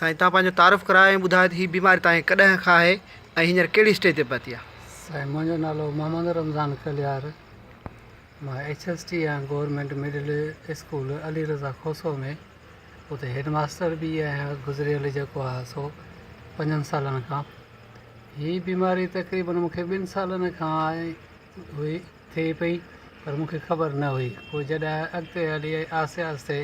سائين تان پنهنجو تعارف ڪراء ۽ ٻڌاء ته هي بيماري تان ڪڏهن کان آهي ۽ هينئر ڪهڙي اسٽيج تي پهتي آهي. سائين منهنجو نالو محمد رمضان ڪليار مان ايڇ ايس ٽي آهيان government middle school Ali Raza Khoso ۾ اتي هيڊ ماستر به آهيان گذريل جيڪو آهي سو پنجن سالن کان هي بيماري تقريبن مون کي ٻن سالن کان آهي هئي ٿئي پئي پر مون کي خبر نه هئي پوء جڏهن اڳتي هلي آهستي آهستي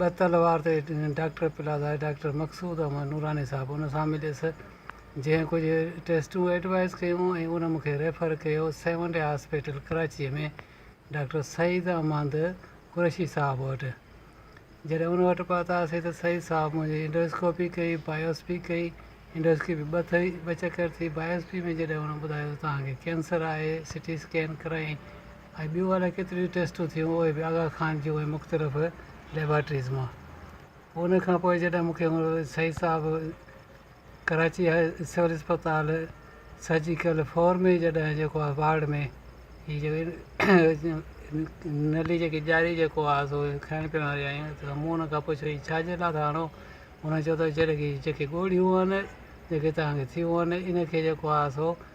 بهتل وارڊ تي ڊاڪٽر پلازاي ڊاڪٽر مقصود احمد نوراني صاحب ان سان مليس جنهن ڪجهه ٽيسٽون ايڊوائيز ڪيون ۽ ان مون کي ريفر ڪيو seventh day hospital Karachi ۾ doctor Saeed Ahmed Qureshi صاحب وٽ جڏهن ان وٽ پهتاسين ته سعيد صاحب منهنجي انڊوسڪوپي ڪئي بايوسپي ڪئي انڊوسڪي ۾ ٻه ٿئي ٻه چڪر ٿي بايوسپي ۾ جڏهن هن ٻڌايو ته توهان کي ڪينسر آهي سٽي اسڪين ڪرايائين ۽ ٻيون الاء ڪيتريون ئي ٽيسٽون ٿيون اهي به آغا خان جون ۽ مختلف ليبارٽريز مان پوء ان کان پوء جڏهن مونکي سعيد صاحب ڪراچي هاء سول اسپتال سرجيڪل فور ۾ جڏهن جيڪو آهي وارڊ ۾ هي جيڪو نلي جيڪي ڄاري جيڪو آهي سو کائڻ پيئڻ واري آيون ته مون ان کان پڇيو هي ڇا جي لاء ٿا هڻو هن چيو ته جڏهن کي جيڪي ڳوڙهيون آهن جيڪي تهانکي ٿيون آهن ان کي جيڪو آهي سو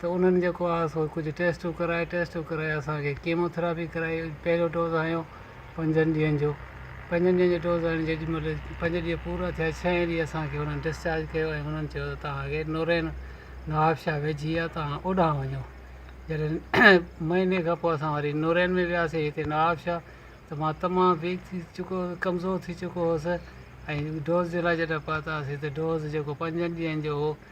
ته انهن جيڪو آهي سو ڪجهه ٽيسٽون ڪرائي ٽيسٽون ڪرائي اسان کي ڪيمو ٿراپي ڪرائي پهريون ڊوز هنيو پنجن ڏينهن جو پنجن ڏينهن جو ڊوز هڻي جيڏي مهل پنج ڏينهن پورا ٿيا ڇهين ڏينهن اسان کي انهن ڊسچارج ڪيو ۽ انهن چيو ته توهان کي نورين نوابشاهه ويجهي آهي توهان اوڏانهن وڃو جڏهن مهيني کان پوء اسان وري نورين ۾ وياسي هتي نوابشاهه ته مان تمام ويڪ ٿي چڪو ڪمزور ٿي چڪو هوس ۽ ڊوز جي لاء جڏهن پهتاسي ته ڊوز جيڪو پنجن ڏينهن جو هو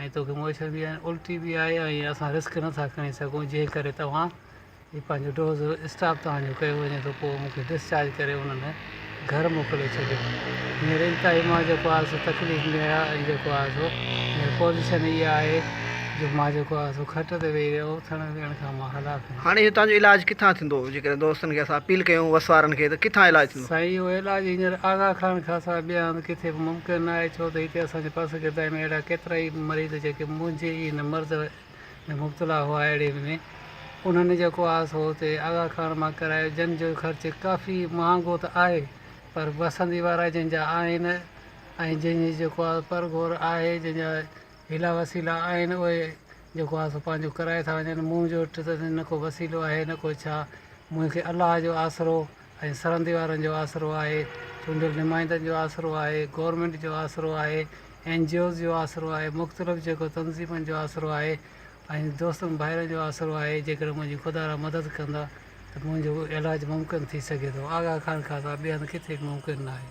۽ توکي موئشر به آهي ۽ الٽي به آهي ۽ اسان رسڪ نٿا کڻي سگهون جنهن ڪري توهان هي پنهنجو ڊوز اسٽاپ توهانجو ڪيو وڃي ٿو پوء مونکي ڊسچارج ڪري انهن گهر موڪلي ڇڏيو هينئر انتهائي مان جيڪو آهي سو تڪليف ۾ آهيان ۽ جيڪو آهي سو هينئر پوزيشن اها آهي جو مان جيڪو آهي سو کٽ تي ويهي رهيو اٿڻ ويهڻ کان مان هلاڪ آهيان. هاڻي هتان جو علاج ڪٿان ٿيندو جيڪڏهن دوستن کي اسان اپيل ڪيون وس وارن کي ته ڪٿان علاج ٿيندو. سائين اهو علاج هينئر آغا خان کان سواء ٻئي هنڌ ڪٿي به ممڪن نه آهي ڇو ته هتي اسان جي پس گردائي ۾ اهڙا ڪيترا ئي مريض جيڪي منهنجي ئي هن مرض ۾ مبتلا هئا اهڙي ۾ انهن جيڪو آهه سو هتي آغا خان مان ڪرايو جن جو خرچ ڪافي مهانگو ته آهي پر وسندي وارا جن جا آهن ۽ جن جي جيڪو آهه پرگهور آهي جن جا هيلا وسيلا آهن اهي جيڪو آهه سو پنهنجو ڪرائي ٿا وڃن منهنجو وٽ ته نه ڪو وسيلو آهي نه ڪو ڇا منهنکي الله جو آسرو ۽ سرندي وارن جو آسرو آهي چونڊيل نمائندن جو آسرو آهي گورمينٽ جو آسرو آهي اين جي اوز جو آسرو آهي مختلف جيڪو تنظيمن جو آسرو آهي ۽ دوستن ڀائرن جو آسرو آهي جيڪڏهن منهنجي خدا را مدد ڪندا ته منهنجو علاج ممڪن ٿي سگهي ٿو آغا خان کان سواء ٻئي هنڌ ڪٿي به ممڪن نه آهي.